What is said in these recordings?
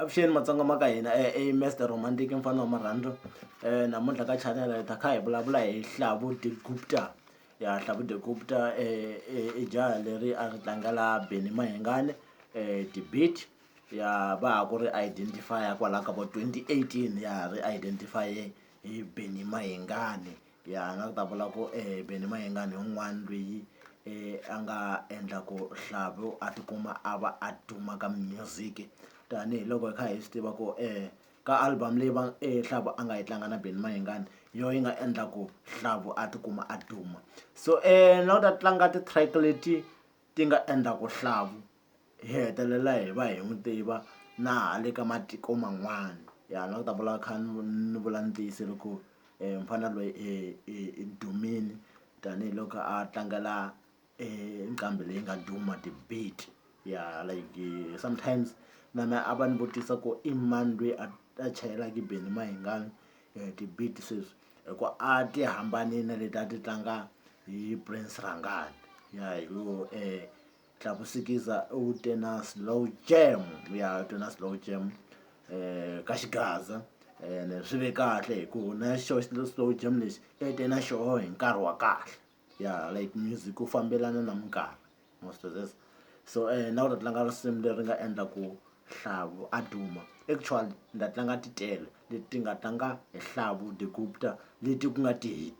Avuxeni matsonga ma ka hina i Mister Romantic mufana wa marhandzu namuntlha ka chanel hi ta kha hi vulavula hi Hlavu de Guupta ya Hlavu de Guupta i jaha leri a ri tlangela Benny Mayengani debate ya va ha ku ri identify kwala ka vo twenty eighteen ya ha ri identify hi Benny Mayengani. ya a nga ta vula ku Benny Mayengani hi un'wani lweyi a nga endla ku Hlavu a tikuma a va a duma ka music tanihiloko hi kha hi swi tiva ku ka album leyi va Hlavu a nga yi tlanga na Benny Mayengani hi yo yi nga endla ku Hlavu a tikuma a duma so na ku ta tlanga ti-track leti. ti nga endla ku hlavu hi hetelela hi va hi n'wi tiva na le ka matiko man'wana ya ni lava ku ta vula kha ni ni vula ni tiyisile ku mufana loyi i dumile tanihiloko a tlangela e nqambi leyi nga duma ti-beat ya like sometimes na me a va ni vutisa ku i mani lweyi a a chayelaka Benny Mayengani. eh, ti-beat sweswi hi ku a ti hambanile na leti a ti tlanga hi prince rangani ya hi ku um eh, tlakusikiza u te na slow jam ya u te na slow jam um ka xigaza ene swi ve kahle hi ku na xo slow jam lexi e te na xoho hi nkarhi wa kahle ya like music ku fambelana na minkarhi most of this so na ku ta tlanga risimu leri nga endla ku Hlavu a duma actually ni ta tlanga ti tele leti nga tlanga hi Hlavu the Gupta leti ku nga ti-hit.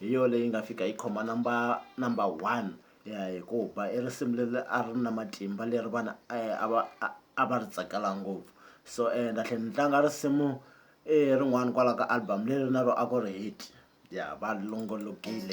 hi yona leyi nga fika yi khoma number number one hikuva i risimu leri a ri na matimba leri vanhu a va a va ri tsakela ngopfu so and a tlhela ni tlanga risimu i rin'wana kwalaho ka album leri na ro a ku ri hit ya va longolokile.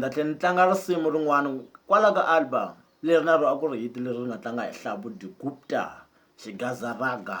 ni ta tlhela ni tlanga risimu rin'wana kwala ka album leri na ro a ku ri hit leri ri nga tlanga hi hlabu digupta xigazaraga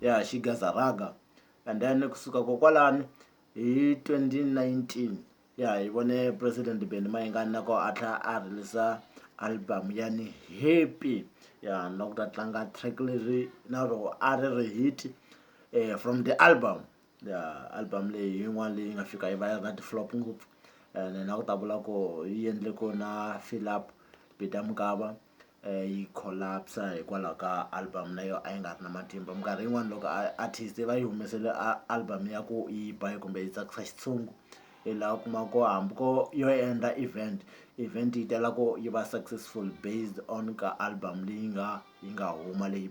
ya xigaza raga and then kusuka kokwalani hi 2019 ya hi vone president benny mayengani na ko a tlhela a releasa album ya ni happy ya na ku ta tlanga track leri na rona a ri ri hit um from the album album leyi hi yin'wani leyi nga fika yi va yi ri na ti-flop ngopfu and na ku ta vula ku yi endle ku na Fill Up Peter Mokaba yi collapse hikwalaho ka album na yo a yi nga ri na matimba minkarhi yin'wani loko a artist va yi humesele a album ya ku yi ba kumbe yi tsakisa xitshungu i la u kuma ku hambi ko yo endla event event yi tala ku yi va successful based on ka album leyi nga yi nga huma leyi .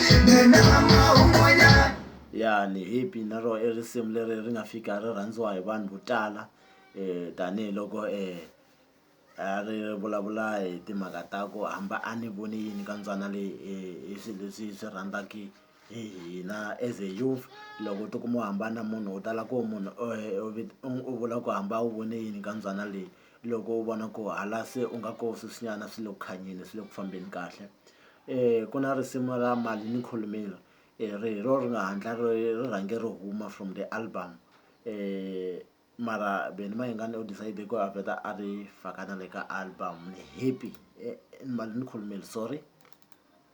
ya ni happy na ro i risimu leri ri nga fika ri rhandziwa hi vanhu vo tala tanihiloko a ri vulavula hi timhaka ta ku hamba a ni voni yini ka mbyana leyi hi swi leswi hi swi rhandzaka hi hina as a youth loko u tikuma u hambana na munhu u tala ku munhu u vula ku hamba a wu voni yini ka mbyana leyi. loko u vona ku hala se u nga ko sweswinyana swi le ku khanyeni swi le ku fambeni kahle um ku na risimu ra mali ni khulumile um ri hi ro ri nga hatla ri ri rhange ri huma from the album um mara Benny Mayengani u decide ku a vheta a ri faka na le ka album ni happy mali ni khulumile sorry.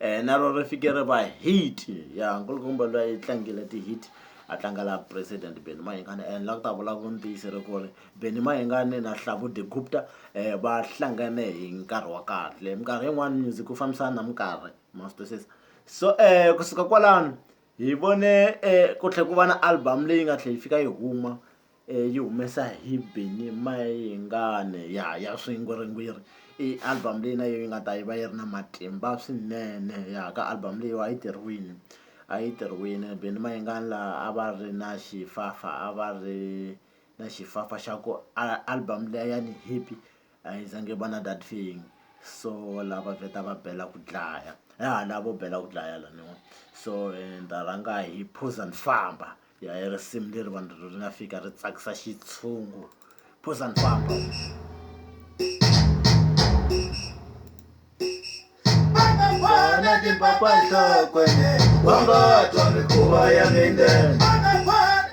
eh, na ro ri fike ri va hit ya nkulukumba loyi a tlangile ti-hit a tlanga la president beni mahingani and la ku ta vula vuntiyisi ri ku ri beni mahingani na hlavude gupta um va hlangane hi nkarhi wa kahle minkarhi yin'wani music ku fambisana na minkarhi ma swi twisisa so um kusuka kwalano hi vone um ku tlhe ku va na album leyi nga tlhe yi fika yi huma yi humesa hi Benny Mayengani ya ya swingwirigwiri i album leyi na yo yi nga ta yi va yi ri na matimba swinene ya ka album leyiwa a yi tirhiwile a yi tirhiwile Benny Mayengani la a va ri na xifafa a va ri na xifafa xa ku a album liya ya ni hit a yi za ngi va na that feeling so lava vheta va bela ku dlaya ya lavo bela ku dlaya laniwa so ni ta rhanga hi Phuzani Famba. ya hi risimu leri vanhu ri nga fika ri tsakisa xitshungu phuza ni famba Bana di papa nhlokweni wa nga twa mikhuva ya mindeni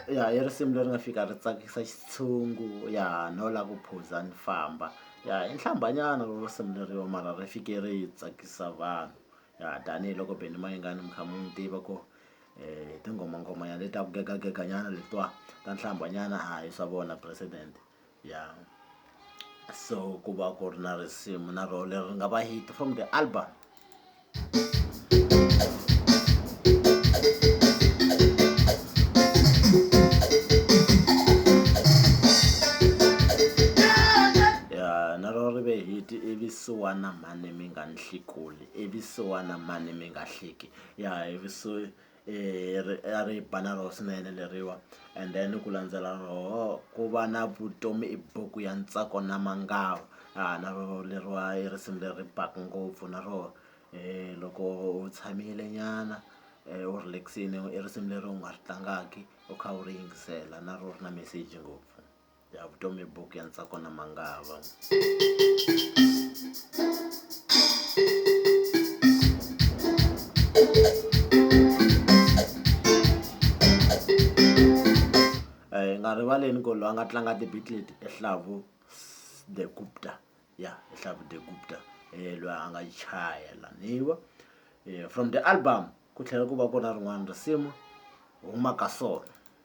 ya i risimu leri nga fika ri tsakisa xitshungu ya no la ku phuza ni famba ya i nhlambanyana ro risimu leriwa mara ri fike ri tsakisa vanhu ya tanihiloko beni mayingani mi kha mi n'wi tiva ku hi tinghoma nghoma ya leta ku gega gega nyana letiwa ta nhlamba nyana a hi swa vona president ya so ku va ku ri na risimu na role leri nga va hit from the album evisiwana mhani mi nga ni hlekuli evisiwana mhani mi nga hleki ya hi a ri bala roho swinene leriwa and then ku landzela roho ku va na vutomi i buku ya ntsako na mangava na rona leriwa i risimu leri baka ngopfu na roho loko u tshamile nyana u relax-ini i risimu leri u nga ri tlangaka u kha u ri yingisela na rona ri na meseji ngopfu. ya vutomi buku ya ntsako na mangava eh, nga rivaleni ku loyi a nga tlanga tibitlet ehlavu the gupta ya ehlavu the gupta um eh, loyi a nga chayela niwa um eh, from the album ku tlhela ku va ku na rin'wana risimu huma ka sona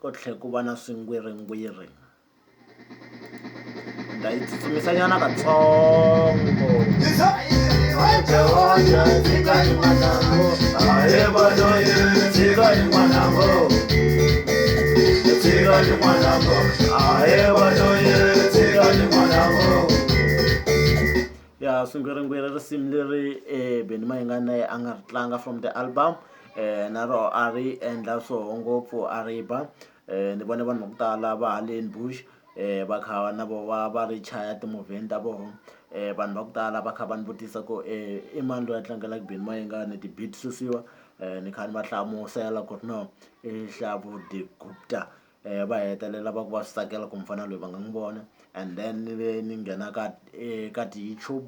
ku tlhela ku va na swingwiringwiri ni ta yi tsutsumisanyana katsongo ya swingwiringwiri risimu leri Benny Mayengani na yena a nga ri tlanga from the album na rona a ri endla swoho ngopfu a ri ba ni vone vanhu va ku tala va haleni Bush va kha na voho va va ri chaya timovheni ta vona vanhu va ku tala va kha va ni vutisa ku i mani loyi a tlangela Benny Mayengani ti-beat susiwa ni kha ni va hlamusela ku ri no i Hlabudiko Gupta. va hetelela va ku va swi tsakela ku mufana loyi va nga n'wi vona and then ni ve ni nghena ka eka ti-YouTube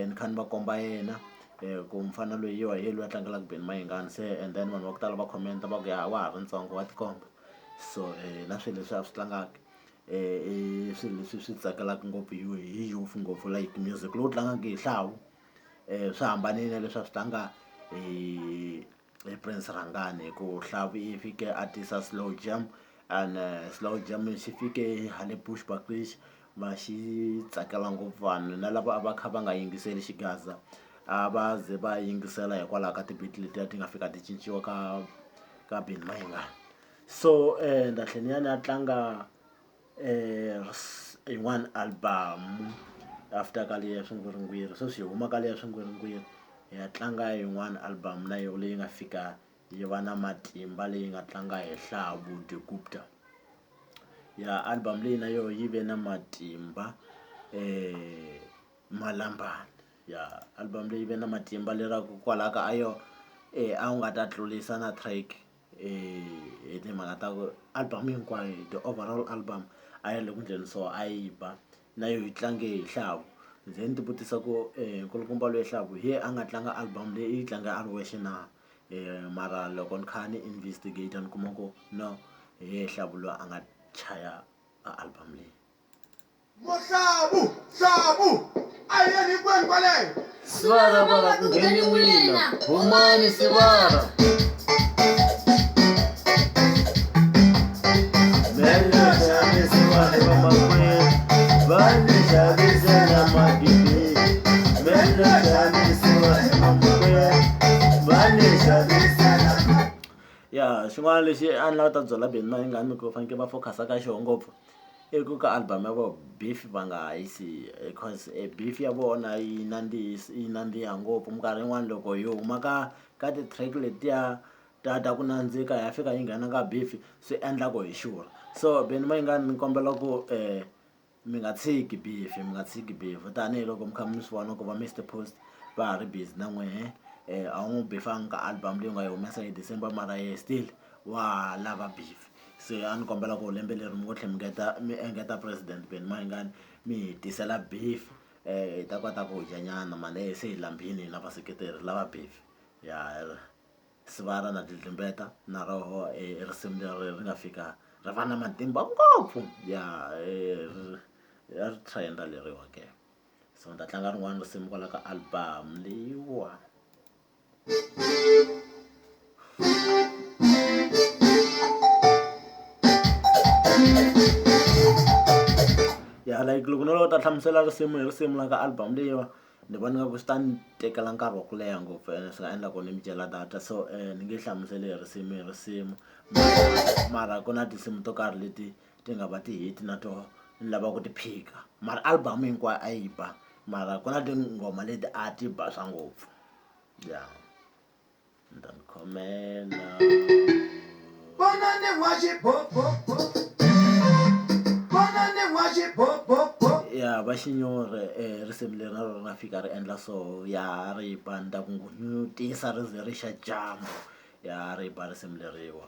ni kha ni va komba yena ku mufana loyi wa hi yena loyi a tlangelaka Benny Mayengani se and then vanhu va ku tala va comment va ku ya wa ha ri ntsongo wa tikomba so na swilo leswi a swi tlangaka i swilo leswi swi tsakelaka ngopfu hi youth ngopfu like music lowu tlangaka hi xihawu swi hambanile na leswi a swi tlanga hi. hi Prince Rhangani hi ku Hlavi i fike a tisa slow jam and slow jam xi fike hale Bushbuckridge va xi tsakela ngopfu vanhu na lava a va kha va nga yingiseli xigaza a va ze va yingisela hikwalaho ka ti-beat letiya ti nga fika ti cinciwa ka ka Benny Mayengani so and a tlhela ni ya ni ya tlanga. yin'wana album after ka leyi ya swingwiringwiri sweswi hi huma ka leyi ya swingwiringwiri hi ya tlanga yin'wana album na yona leyi nga fika yi va na matimba leyi nga tlanga hi ya album leyi na yona yi ve na matimba Malambani ya album leyi ve na matimba lera ku kwalaya ka a yo a wu nga ta tlurisa na track. hi timhaka ta ku album hinkwayo the overall album a yi ri le ku endleni so a yi ba na yo yi tlange hi nxavo ndzi ni ti vutisa ku nkulukumba loyi nxavo hi yena a nga tlanga album leyi i yi tlanga a ri wexe na mara loko ni kha ni investigator ni kuma ku no hi yena nxavo loyi a nga chaya a album leyi. Muhlabu, hlabu, a hi yeni hinkwenu kwaleyo. Sivara va nga ku ngheni n'wina, humani Sivara. ya xin'wana lexi a ni lava ta byela beni na yingani ku fanekele va focus-a ka xona ngopfu I ku ka album ya vona beef va nga ha yi siyi because e beef ya vona yi nandzihi yi nandziha ngopfu minkarhi yin'wani loko yi huma ka ka ti-track letiya ta ta ku nandzika ya fika yi nghena ka beef swi endla ku hi xurha so Benny Mayengani ni kombela ku mi nga tshiki beef mi nga tshiki beef tanihiloko mi kha mi swi vona ku va Mister Post va ha ri busy na n'wehe a wu n'wi bifanga ka album leyi u nga yi humesa hi December mara yena still wa ha lava beef. se a ni kombela ku lembe leri mi ngo tlhe mi ngeta mi engeta president Benny Mayengani mi hi tisela beef hi ta kota ku dya nyana mhani se hi laambile hina vaseketeri lava beef ya Sibala na Dludlumbeta na roho risimu leri ri nga fika ri va na matimba ngopfu ya ya ri trend-a leriwa ke so ni ta tlanga rin'wana risimu kwala ka album leyiwa. ya like loko no ta hlamusela risimu hi risimu la ka album leyiwa ni vona nga ku swi ta ni tekela nkarhi wa ku leha ngopfu ene swi nga endla ku ni mi dyela data so um ni nge hlamuseli hi risimu hi risimu mara ku na tinsimu to karhi leti ti nga va ti-hit na to ni lava ku ti phika mara album hinkwayo a yi ba mara ku na tinghoma leti a ti ba swa ngopfu ya ni ta mi khomela vona ni wa xibobobo vona ni wa xibobobo ya va xinyore um risimu leri na rona fika ri endla so ya ri ba ni ta ku ngunyutisa ri ze ri xa dyambu ya ri ba risimu leriwa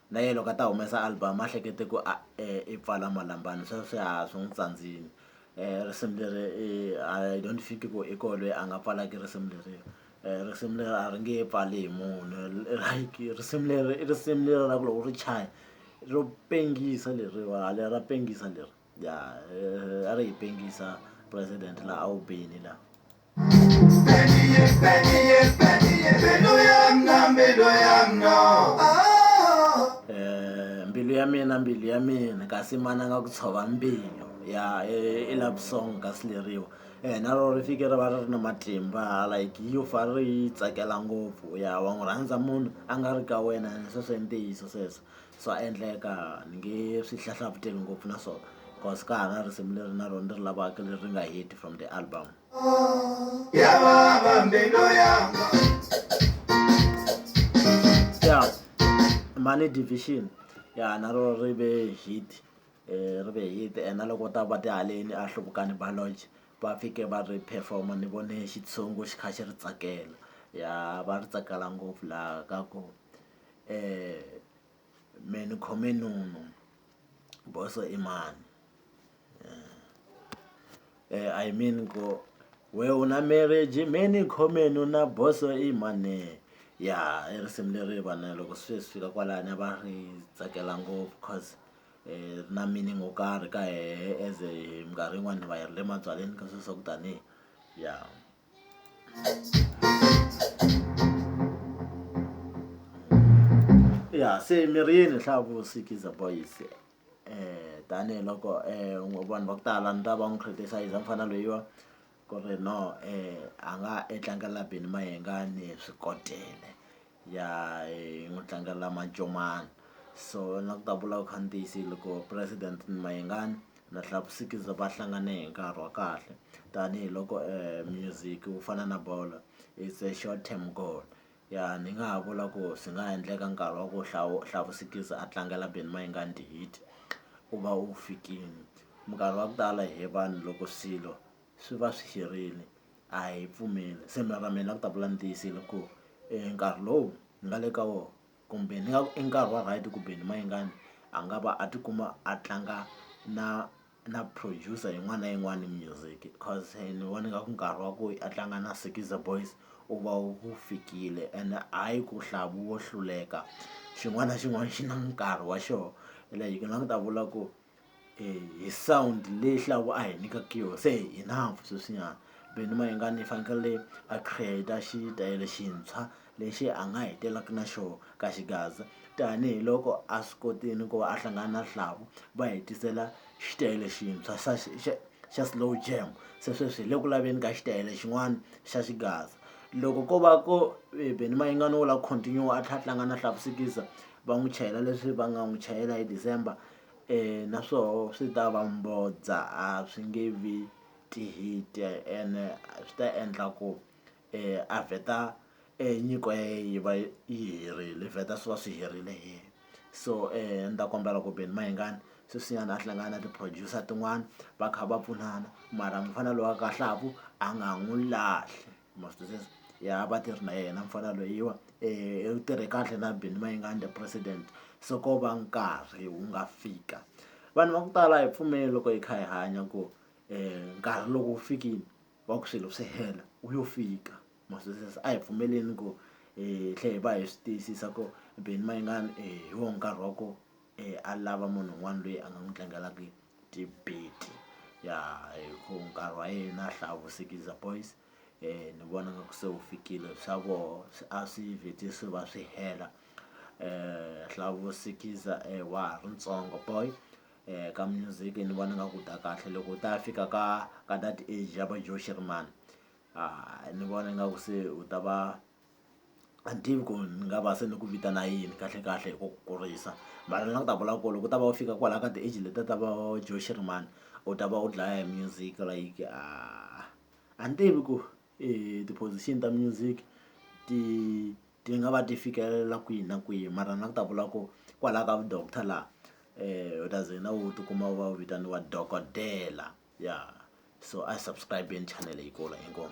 na yena loko a ta humesa album a hlekete ku a i pfala malambani swa swi haha swi n'wi tsandzile risimu leri i I don't think ku i koho lweyi a nga pfalaka risimu leri risimu leri a ri nge pfali hi munhu like risimu leri i risimu leri ra ku loko u ri chaya ro pengisa leriwani ra pengisa leri. ya a ri hi pengisa president la a wu beli la eh, mbilu ya mina mbilu ya mina kasi mana nga ku tshova mbilu ya e, i love song ka sileriwa eh na rona ri fike ri va ri ri na matimba like yo fa ri yi tsakela ngopfu ya wa n'wi rhandza munhu a nga ri ka wena sweswo i ntiyiso sweswo swa endleka ni nge swi hlahlavuteli ngopfu na swona cause ka ha na risimu leri na rona ni ri lavaka leri ri nga heti from the album ya vava mbilu yanga ya money division ya na ro ri ve hit eh, ri ve hit and na loko ta va tihaleni a hluvukani baloge va fike va ri performa ni vone xitshungu xi kha xi ri tsakela ya va ri tsakela ngopfu laha ka ku me ni khome nunu boso i mani eh, i mean ko we u na marriage me ni khome nuna boso i mani ya i risimu leri vana loko swi swi fika kwalani a va ri tsakela ngopfu cause um ri na meaning wo karhi ka hehe as minkarhi yin'wani va yi ri le mabyaleni ka sweswo ku tanihi ya yeah. ya se mirini hlavu sikiza boys eh tanihiloko eh vanhu va ku tala ni ta va n'wi criticize mufana loyiwa ku ri no eh a nga e tlangela Benny Mayengani swikotela ya hi n'wi tlangela mancomani so na ku ta vula ku kha ni tiyisile loko president ni Mayengani na Hlakusikiza va hlangane hi nkarhi wa kahle tanihiloko music wu fana na bolo it's a short term goal ya ni nga ha vula ku swi nga endleka nkarhi wa ku Hlakusikiza a tlangela Benny Mayengani Hit u va wu fikile minkarhi ya ku tala hi vanhu loko swilo. swi va swi herile a hi pfumeli se mara mina ku ta vula ni tiyisile ku nkarhi lowu ni nga le ka wona kumbe ni nga i nkarhi wa right kumbe ni mayengani a nga va a tikuma a tlanga na na producer yin'wana na yin'wana music cause ni vona nga ku nkarhi wa ku a tlanga na Skiza Boys u va wu fikile and hayi ku hlavu wo hluleka xin'wana na xin'wana xi na nkarhi wa xona like ni nga ku ta vula ku. hi sound leyi hlawula a hi nyikaka yona se hi na sweswinyana Benny Mayengani i fanekele a create-a xitayele xintshwa lexi a nga hi tirhaka na xona ka xigaza tanihiloko a swi kotile ku va a hlangana na Hlabo va hi tisela xitayele xintshwa xa xa xa slow jam se sweswi hi le ku laveni ka xitayele xin'wana xa xigaza loko ko va ku Benny Mayengani wo lava continue a tlhela a tlanga na Hlabo Sikiza va n'wi chayela leswi va nga n'wi chayela hi December. na swoho swi ta va mbodza a swi nge vi ti-hit ene swi ta endla ku a vheta nyiko ya ye yi va yi herile vheta swi va swi herile hi yena so a ni ta kombela ku Benny Mayengani sweswinyana a hlangana na ti-producer tin'wani va kha va pfunana mara mufana loyi wa kahlaku a nga n'wu lahli. ma swi twisisa ya vatirhi na yena mfana lweyiwa u tirhe kahle na Benny Mayengani president se ko va nkarhi wu nga fika vanhu va ku tala hi pfumeli loko hi kha hi hanya ku nkarhi loko wu fikile wa ku swilo swi hela wu yo fika ma swi twisisa a hi pfumeleni ku hi tlhe hi va hi swi tiyisisa ku Benny Mayengani hi wo nkarhi wa ko. a lava munhu un'wana loyi a nga n'wi tlangelaka debate ya hi ku nkarhi wa yena a hlaya vusikiza boys ni vona nga ku se wu fikile swa voho swi a swi vhete swi va swi hela hlawusikiza wa ha ri ntsongo boy ka music ni vona nga ku ta kahle loko u ta fika ka ka that age ya va Joe Shirimani ni vona nga ku se u ta va. a ni tivi ku ni nga va se ni ku vitana yini kahlekahle hi ku ku kurisa mara ni lava ku ta vula ku loko u ta va u fika kwalaya ka ti-age letiya ta va Joe Shirimani u ta va u dlaya hi music like a ni tivi ku ti-position ta music ti ti nga va ti fikelela kwihi na kwihi mara ni lava ku ta vula ku kwalaya ka vu doctor laha u ta ze na u tikuma u va u vitaniwa dokodela ya so a hi subscribe-eni channel leyi kulu inkomu.